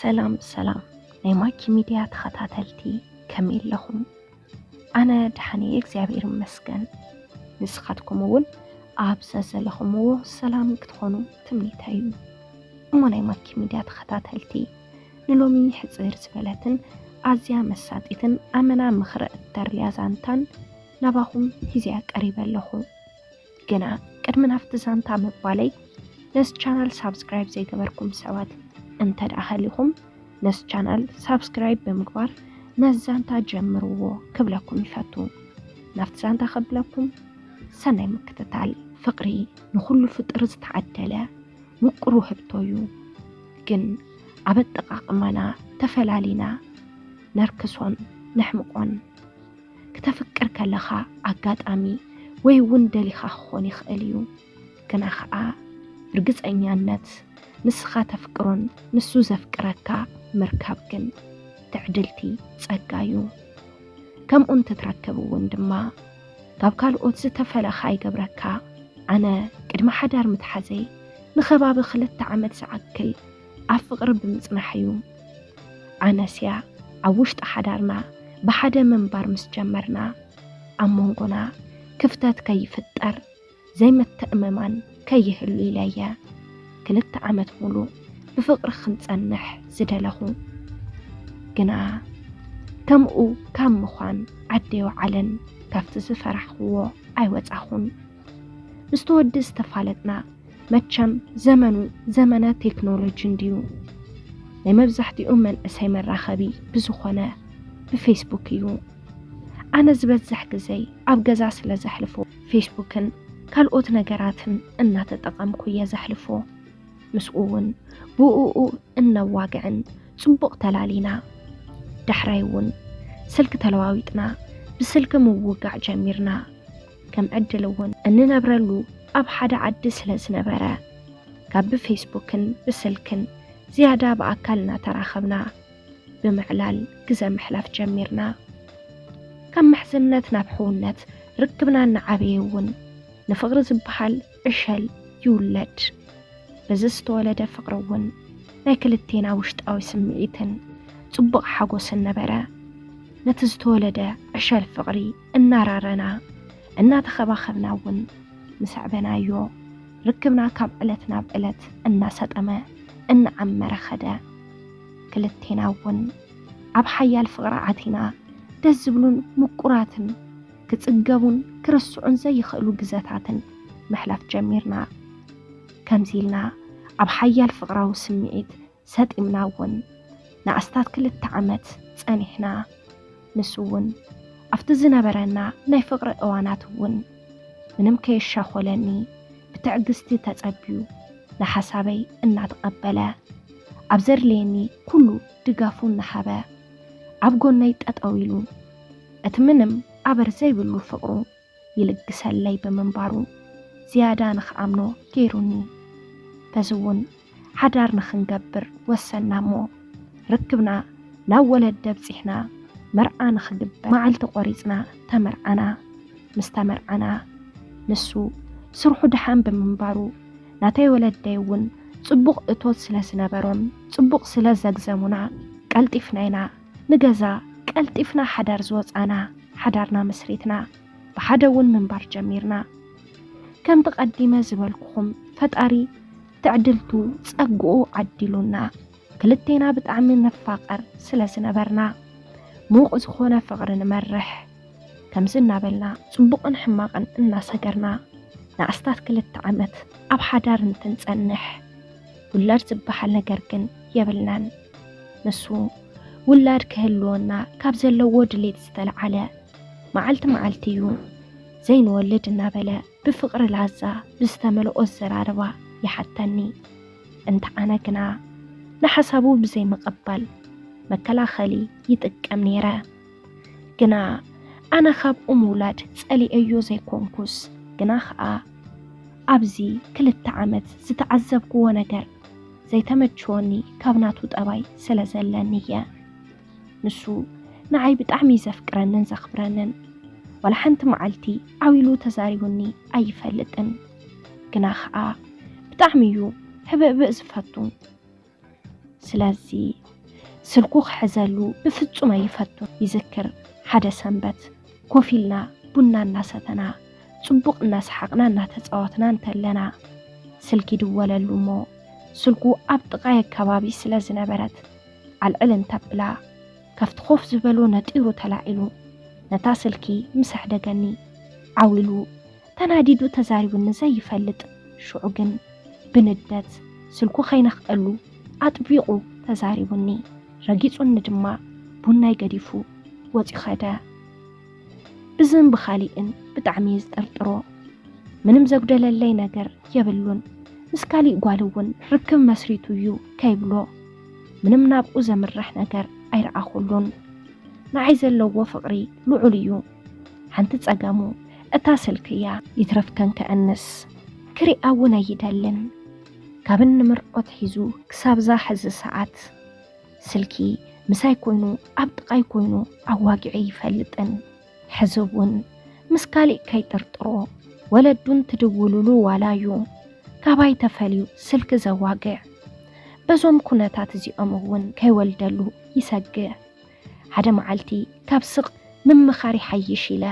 ሰላም ሰላም ናይ ማኪ ሚድያ ተኸታተልቲ ከመይ ኣለኹም? ኣነ ደሓን እየ እግዚኣብሔር ይመስገን። ንስኻትኩም እውን ኣብ ዘዘለኹምዎ ሰላም ክትኾኑ ትምኒተይ እዩ። እሞ ናይ ማኪ ሚድያ ተኸታተልቲ ንሎሚ ሕፅር ዝበለትን ኣዝያ መሳጢትን ኣመና ምኽሪ እተርልያ ዛንታን ናባኹም ሂዘያ ቀሪበ ኣለኹ። ግና ቅድሚ ናብቲ ዛንታ ምባለይ ነስ ቻናል ሳብስክራይብ ዘይገበርኩም ሰባት እንተ ደኣ ሃሊኹም ነስ ቻናል ሳብስክራይብ ብምግባር ነዚ ዛንታ ጀምርዎ ክብለኩም ይፈቱ። ናብቲ ዛንታ ከብለኩም ሰናይ ምክትታል። ፍቅሪ ንኹሉ ፍጥር ዝተዓደለ ውቅሩ ህብቶ እዩ። ግን ኣብ ኣጠቃቅማና ተፈላሊና ነርክሶን ነሕምቆን። ክተፍቅር ከለኻ ኣጋጣሚ ወይ እውን ደሊኻ ክኾን ይኽእል እዩ። ግና ኸዓ ብርግፀኛነት ንስኻ ተፍቅሮን ንሱ ዘፍቅረካ ምርካብ ግን ትዕድልቲ ፀጋ እዩ። ከምኡ እንትትረክብ እውን ድማ ካብ ካልኦት ዝተፈለኻ ይገብረካ። ኣነ ቅድሚ ሓዳር ምትሓዘይ ንኸባቢ ክልተ ዓመት ዝኣክል ኣብ ፍቕሪ ብምጽናሕ እዩ። ኣነስ እያ ኣብ ውሽጢ ሓዳርና ብሓደ ምንባር ምስ ጀመርና ኣብ መንጎና ክፍተት ከይፍጠር ዘይምትእምማን ከይህሉ ኢለ እየ ክልተ ዓመት ሙሉ ብፍቕሪ ክንጸንሕ ዝደለኹ። ግና ከምኡ ካብ ምዃን ዓደይ ወዓለን ካብቲ ዝፈራሕኽዎ ኣይወጻኹን። ምስ ተወዲ ዝተፋለጥና መቸም ዘመኑ ዘመነ ቴክኖሎጂ እንድዩ ናይ መብዛሕትኡ መንእሰይ መራኸቢ ብዝኾነ ብፌስቡክ እዩ ኣነ ዝበዝሕ ግዘይ ኣብ ገዛ ስለ ዘሕልፎ ፌስቡክን ካልኦት ነገራትን እናተጠቐምኩ እየ ዘሕልፎ ምስኡ እውን ብኡኡ እነዋግዕን ፅቡቕ ተላሊና ዳሕራይ እውን ስልኪ ተለዋዊጥና ብስልኪ ምውጋዕ ጀሚርና ከም ዕድል እውን እንነብረሉ ኣብ ሓደ ዓዲ ስለ ዝነበረ ካብ ብፌስቡክን ብስልክን ዝያዳ ብኣካል እናተራኸብና ብምዕላል ግዘ ምሕላፍ ጀሚርና። ካብ ምሕዝነት ናብ ሕውነት ርክብና እናዓበየ እውን ንፍቕሪ ዝበሃል ዕሸል ይውለድ። በዚ ዝተወለደ ፍቕሪ እውን ናይ ክልቴና ውሽጣዊ ስምዒትን ፅቡቕ ሓጎስን ነበረ። ነቲ ዝተወለደ ዕሸል ፍቕሪ እናራረና እናተኸባኸብና እውን ምሰዕበናዮ ርክብና ካብ ዕለት ናብ ዕለት እናሰጠመ እናዓመረ ኸደ። ክልቴና እውን ኣብ ሓያል ፍቕሪ ኣቲና ደስ ዝብሉን ምቁራትን ክጽገቡን ክርስዑን ዘይኽእሉ ግዘታትን ምሕላፍ ጀሚርና። ከምዚ ኢልና ኣብ ሓያል ፍቕራዊ ስምዒት ሰጢምና እውን ንኣስታት ክልተ ዓመት ጸኒሕና። ንሱ እውን ኣብቲ ዝነበረና ናይ ፍቕሪ እዋናት እውን ምንም ከየሻኾለኒ ብትዕግስቲ ተጸብዩ ንሓሳበይ እናተቐበለ ኣብ ዘድልየኒ ኩሉ ድጋፉ እናሃበ ኣብ ጎነይ ጠጠው ኢሉ እቲ ምንም ኣበር ዘይብሉ ፍቕሩ ይልግሰለይ ብምንባሩ ዝያዳ ንክኣምኖ ገይሩኒ። በዚ እውን ሓዳር ንክንገብር ወሰና እሞ ርክብና ናብ ወለዲ ኣብፂሕና መርዓ ንክግበር መዓልቲ ቆሪፅና ተመርዓና። ምስ ተመርዓና ንሱ ስርሑ ድሓን ብምንባሩ ናተይ ወለደይ እውን ፅቡቕ እቶት ስለ ዝነበሮም ፅቡቕ ስለ ዘግዘሙና ቀልጢፍና ኢና ንገዛ ቀልጢፍና ሓዳር ዝወጻና፣ ሓዳርና መስሪትና ብሓደ እውን ምንባር ጀሚርና። ከምቲ ቀዲመ ዝበልኩኹም ፈጣሪ ትዕድልቱ ጸግኡ ዓዲሉና ክልቴና ብጣዕሚ ንፋቐር ስለ ዝነበርና ሙቕ ዝኾነ ፍቕሪ ንመርሕ። ከምዚ እናበልና ጽቡቕን ሕማቕን እናሰገርና ንኣስታት ክልተ ዓመት ኣብ ሓዳር እንትንጸንሕ፣ ውላድ ዝበሃል ነገር ግን የብልናን። ንሱ ውላድ ክህልወና ካብ ዘለዎ ድሌት ዝተለዓለ መዓልቲ መዓልቲ እዩ ዘይንወልድ እናበለ ብፍቕሪ ላዛ ብዝተመልኦ ኣዘራርባ ይሓተኒ። እንተ ኣነ ግና ንሓሳቡ ብዘይምቕባል መከላኸሊ ይጥቀም ነይረ። ግና ኣነ ካብኡ ምውላድ ጸሊኤዮ ዘይኮንኩስ ግና ኸኣ ኣብዚ ክልተ ዓመት ዝተዓዘብክዎ ነገር ዘይተመቸወኒ ካብ ናቱ ጠባይ ስለ ዘለኒ እየ ንሱ ንዓይ ብጣዕሚ ዘፍቅረንን ዘኽብረንን ዋላ ሓንቲ መዓልቲ ዓዊሉ ተዛሪቡኒ ኣይፈልጥን ግና ኸኣ ብጣዕሚ እዩ ህብእብእ ዝፈቱ ስለዚ ስልኩ ክሕዘሉ ብፍጹም ኣይፈቱ። ይዝክር ሓደ ሰንበት ኮፍ ኢልና ቡና እናሰተና ጽቡቕ እናሰሓቕና እናተጻወትና እንተለና ስልኪ ይድወለሉ እሞ ስልኩ ኣብ ጥቓይ ኣካባቢ ስለ ዝነበረት ዓልዕል እንተብላ ከፍቲ ኮፍ ዝበሎ ነጢሩ ተላዒሉ ነታ ስልኪ ምስ ኣሕደገኒ ዓው ኢሉ ተናዲዱ ተዛሪቡኒ ዘይፈልጥ ሽዑ ግን ብንደት ስልኩ ከይነኽኣሉ ኣጥቢቑ ተዛሪቡኒ ረጊጹኒ ድማ ቡናይ ገዲፉ ወጺኡ ከደ። ብዝን ብኻሊእን ብጣዕሚ እየ ዝጥርጥሮ ምንም ዘጉደለለይ ነገር የብሉን ምስ ካሊእ ጓል እውን ርክብ መስሪቱ እዩ ከይብሎ ምንም ናብኡ ዘምርሕ ነገር ኣይረኣኹሉን ንዓይ ዘለዎ ፍቕሪ ልዑል እዩ። ሓንቲ ጸገሙ እታ ስልኪ እያ። ይትረፍ ከንክዕንስ ክሪኣ እውን ኣይደልን። ካብ እንምርዖ ኣትሒዙ ክሳብዛ ሕዚ ሰዓት ስልኪ ምሳይ ኮይኑ ኣብ ጥቓይ ኮይኑ ኣዋጊዑ ኣይፈልጥን። ሕዚ እውን ምስ ካሊእ ከይጥርጥሮ ወለዱን ትድውሉሉ ዋላ እዩ ካባይ ተፈልዩ ስልኪ ዘዋግዕ። በዞም ኩነታት እዚኦም እውን ከይወልደሉ ይሰግእ። ሓደ መዓልቲ ካብ ስቕ ምምኻር ይሓይሽ ኢለ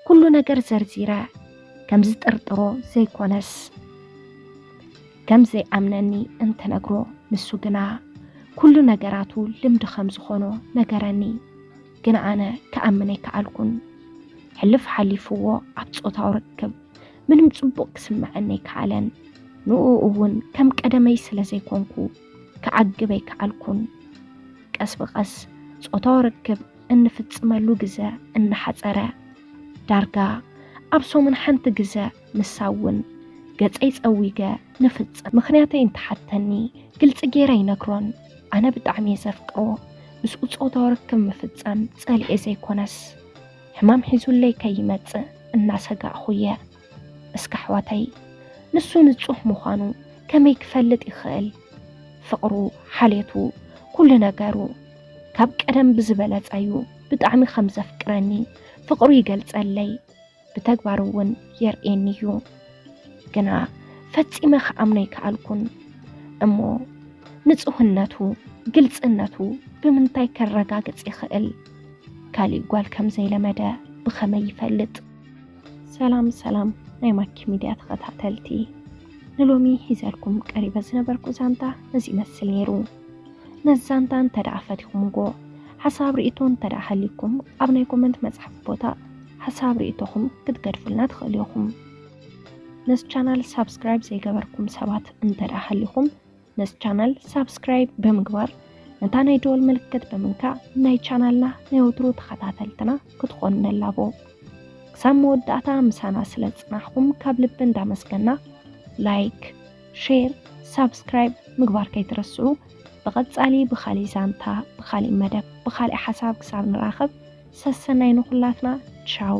ኩሉ ነገር ዘርዚረ ከም ዝጥርጥሮ ዘይኮነስ ከም ዘይኣምነኒ እንትነግሮ ንሱ ግና ኩሉ ነገራቱ ልምዲ ከም ዝኾኖ ነገረኒ። ግን ኣነ ክኣምን ኣይከኣልኩን። ሕልፍ ሓሊፍዎ ኣብ ፆታዊ ርክብ ምንም ፅቡቕ ክስምዐኒ ኣይከኣለን። ንኡ እውን ከም ቀደመይ ስለ ዘይኮንኩ ክዓግብ ኣይከኣልኩን። ቀስ ብቐስ ጾታዊ ርክብ እንፍጽመሉ ግዘ እናሓጸረ፣ ዳርጋ ኣብ ሰሙን ሓንቲ ግዘ ንሳ እውን ገጸይ ጸዊገ ንፍጽም። ምኽንያተይ እንተሓተኒ ግልጺ ገይረ ኣይነግሮን። ኣነ ብጣዕሚ እየ ዘፍቅሮ፣ ምስኡ ጾታዊ ርክብ ምፍጻም ጸሊኤ ዘይኮነስ ሕማም ሒዙለይ ከይመጽእ እናሰጋእኹ እየ። እስከ ኣሕዋተይ ንሱ ንጹህ ምዃኑ ከመይ ክፈልጥ ይኽእል? ፍቕሩ፣ ሓልየቱ፣ ኩሉ ነገሩ ካብ ቀደም ብዝበለጸ እዩ ብጣዕሚ ከም ዘፍቅረኒ ፍቕሩ ይገልጸለይ ብተግባር እውን የርእየኒ እዩ። ግና ፈጺመ ክኣምኖ ኣይከኣልኩን እሞ ንጹህነቱ ግልጽነቱ ብምንታይ ከረጋግጽ ይኽእል? ካሊእ ጓል ከም ዘይለመደ ብኸመይ ይፈልጥ? ሰላም ሰላም ናይ ማኪ ሚድያ ተኸታተልቲ ንሎሚ ሒዘልኩም ቀሪበ ዝነበርኩ ዛንታ እዚ ይመስል ነይሩ። ነዚ ዛንታ እንተደኣ ፈቲኹምዎ ሓሳብ ርእቶ እንተደኣ ሃልዩኩም ኣብ ናይ ኮመንት መጽሓፍ ቦታ ሓሳብ ርእቶኹም ክትገድፉልና ትኽእሉ ኢኹም። ነዚ ቻናል ሳብስክራይብ ዘይገበርኩም ሰባት እንተደኣ ሃልዩኹም ነዚ ቻናል ሳብስክራይብ ብምግባር ነታ ናይ ደወል ምልክት ብምንካእ ናይ ቻናልና ናይ ወትሩ ተኸታተልትና ክትኾኑ ነላቦ። ክሳብ መወዳእታ ምሳና ስለ ጽናሕኩም ካብ ልቢ እንዳመስገና ላይክ፣ ሼር፣ ሳብስክራይብ ምግባር ከይትረስዑ። ብቐጻሊ ብኻሊእ ዛንታ፣ ብኻሊእ መደብ፣ ብኻሊእ ሓሳብ ክሳብ ንራኸብ ሰሰናይ ንኹላትና ቻው።